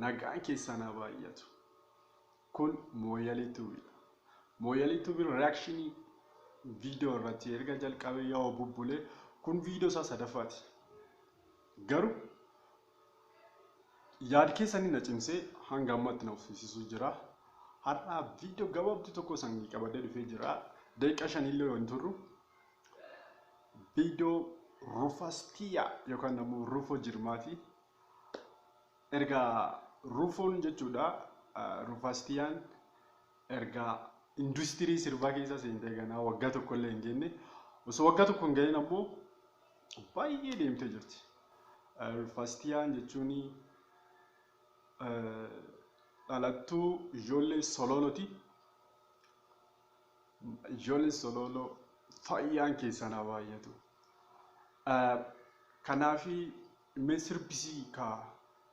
Nagaan keessaan haa baay'atu. Kun Mooyalii Tuubiidha. Mooyalii Tuubiin reakshinii viidiyoo irratti erga jalqabee yoo bubbulee kun viidiyoo isaa sadaffaati. Garuu yaad keessanii na cimsee hanga ammatti na uffiisisuu jira. Har'aa viidiyoo gabaabduu tokko san qabadee dhufee jira. Daqiiqa shanillee yoo hin turru viidiyoo rufastiya yookaan ammoo rufoo jirmaati. Erga rufoon jechuudha rufastiyaan erga industirii sirbaa keessa seentee ganaa waggaa tokkollee hin geenye. Osoo waggaa tokko hin gahin ammoo baay'ee deemtee jirti. Rufastiyaan jechuun dhalattuu ijoollee Solooloti. Ijoolleen Solooloo fayyaan keessan haa baay'atu. Kanaaf mee sirbisii kaa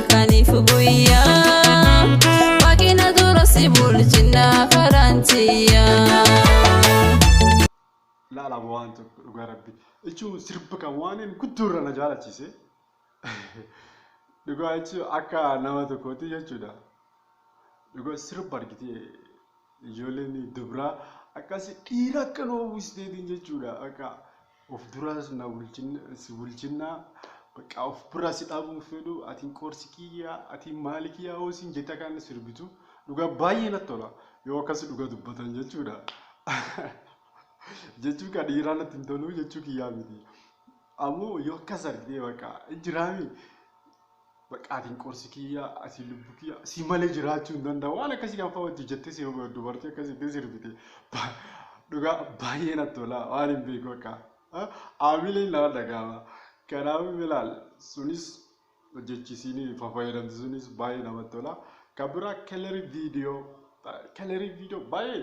halkaniif guyyaa waaqina dura si bulchinna karaan tiyyaa. laala waan tokko dhugaa rabbi jechuun sirba kan waan inni guddoo irra na jaalachiise dhugaa jechuun akka nama tokkooti jechuudha dhugaa sirba argitee Ijoolleen dubraa akkasi dhiira akka nu hawwisteetiin jechuudha. Bakka of duraas na bulchinna si bulchinna bakka of bira si dhaabuun fedhu atiin qoorsi kiyya atiin maali kiyya hoo siin jette akka inni sirbitu dhugaa baay'ee natti tola yoo akkasi dhugaa dubbatan jechuudha. Jechuu kan dhiiraa natti hin tolu jechuu kiyyaa miti. Ammoo yoo akkas argitee bakka hin jiraami Baqqaatiin qorsi kiyya asii lubbu kiyya si malee jiraachuu hin danda'u waan akkasii kan fa'aatti jettee si dubartii akkasitti sirbite dhugaa baay'ee natti tola waan hin beeku akka aamileen nama dhagaama kanaafuu bilaal sunis hojjechiisiin fayyadamtu sunis baay'ee namatti tola kan biraa kelerii viidiyoo kelerii viidiyoo baay'ee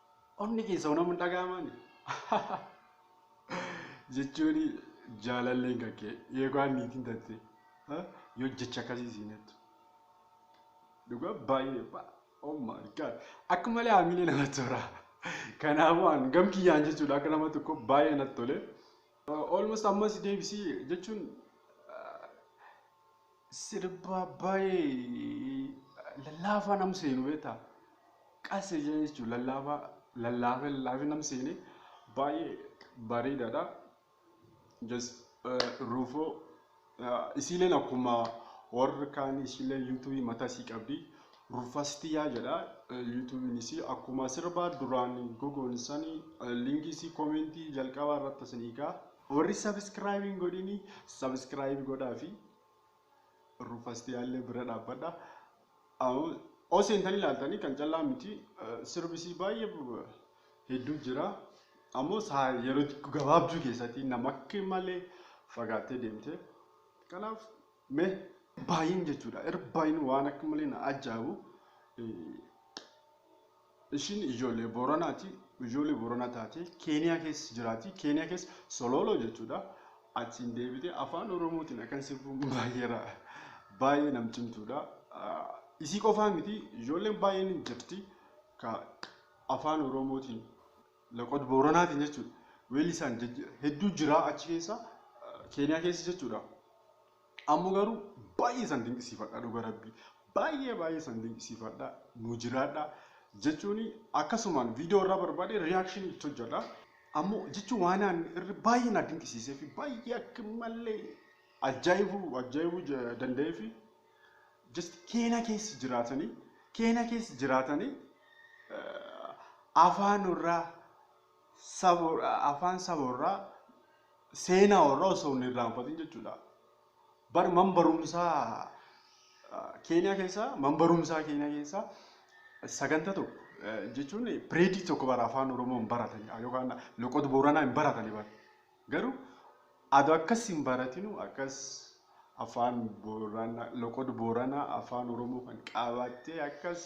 Onni kee soonam hin dhaga'amaani. Jechuun jaalalleen kan kee eegaan niitiin tatte yoo jecha akkasii siin jettu. Dhugaa baay'ee oh my god akka malee haamilee namatti tola. Kanaafuu an gam kiyyaan jechuudha akka nama tokko baay'ee natti tole. Almost ammas deebisii jechuun Sirba baay'ee lallaafaa nam seenu beektaa? Qas ija jechuun lallaafaa lallaafee lallaafee nam seene baay'ee bareedaadha. Just ruufoo isiileen akkuma warri kaan isiilee yuutuubii mataa isii qabdi. Rufastiyaa jedha yuutuubiin isii akkuma sirbaa duraan gogoon sanii linkii isii koomentii jalqabaa irratti isinii kaa. Warri subscribe hin godhini subscribe godhaafi rufastiyaallee bira dhaabbadha. Aw- Osoo seentanii ilaaltanii kan callaa miti eh, sirbisii baay'ee bu- hedduu jira. Ammoo saa yeroo xiqqoo gabaabduu keessatti nama akka malee fagaattee deemte. Kanaaf mee baay'een jechuudha. Irbaay'een waan akka malee na ajaa'ibu. Eh, Ishiin ijoollee Booranaati. Ijoollee Booranaa taatee Keeniyaa keessa jiraati. Keeniyaa keessa Solooloo jechuudha. Achiin deebitee afaan Oromootiin akkan sirbuun baay'ee ra- baay'ee nam cimtuudha. Ah, Isii qofaa miti ijoolleen baay'een hin jirti. Ka afaan Oromootiin laqod Booranaatiin jechuudha. Weellisaan jajja- hedduu jira achi keessa ah, Keeniyaa keessa jechuudha. Ammo garu baay'ee isan dinqisiifadha dhuga rabbii baay'ee baay'ee isan dinqisiifadha nu jiraadha jechuuni akkasumaan viidiyoo irraa barbaade reaction itti hojjedha ammo jechuun waan aan irra baay'ee na dinqisiisee fi baay'ee akka malee ajaa'ibuu ajaa'ibuu ja- danda'ee fi just keena keessa jiraatanii keena keessa jiraatanii eh, afaan irraa saba afaan saba irraa seenaa warraa osoo hin irraanfatin jechuudha. Bar man barumsaa Keeniyaa keessaa man barumsaa Keeniyaa keessaa saganta tokko eh, jechuun pireedii tokko bara afaan Oromoo hin baratan yookaan loqoda Booranaa hin baratan bara. Garuu ado akkas hin baratinu akkas afaan boorana loqod boorana afaan oromoo kan qaabaattee akkas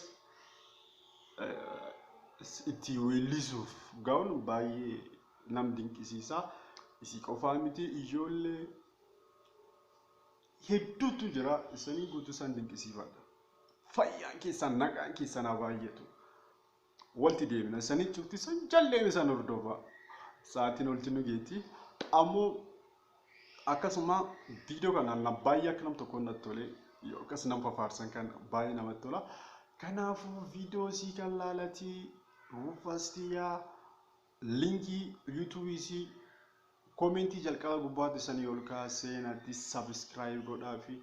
itti weellisuuf gaa'un baay'ee nam dinqisiisaa isii qofaa miti ijoollee hedduutu jira isanii guutuu isaan dinqisiifadha. Fayyaan keessan nagaan keessan haa baay'atu. Walti deebina sani cufti san jalleen san hordofa. Sa'aatiin olti nu geeti. Ammoo akkasuma viidiyoo kana na baay'ee akka nam tokkoon natti tole yoo akkas nam fafaarsan kan baay'ee namatti tola. Kanaafuu viidiyoo sii kan laalati ruufastiyaa linkii yuutuubii sii koomentii jalqaba gubbaatti sanii ol kaa seenatti sabiskiraayib godhaa fi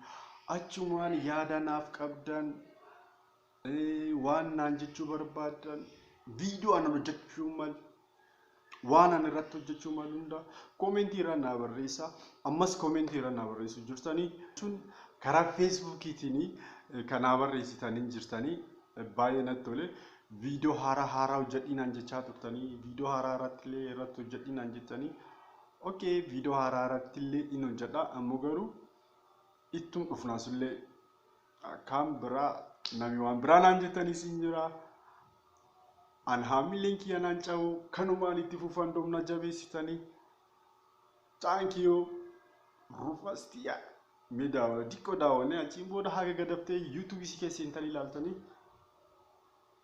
achumaan yaada naaf qabdan Waan naan jechuu barbaaddan viidiyoo anan hojjechuu malu waan ani irratti hojjechuu malu hunda koomentii irra naa barreessa. Ammas koomentii irra naa barreessu jirtanii jechuun karaa feesbuukiitiin kan naa barreessitaniin jirtanii baay'ee natti tole. Viidiyoo haaraa haaraa hojjedhii naan jechaa turtanii viidiyoo haaraa irratti illee irratti hojjedhii naan jettanii okee viidiyoo haaraa irratti illee in hojjedha ammoo garuu ittum dhufnaasullee Kaan biraa nami waan biraa naan jettaniis hin jira. An haamilleen kiyya naan cabu kanumaan itti fufan domna jabeessitanii. Thank you. Rufas tiyya. Mee daawa diqqoo daawwannee achiin booda haga gadaftee yuutuubisii keessa seentanii ilaaltanii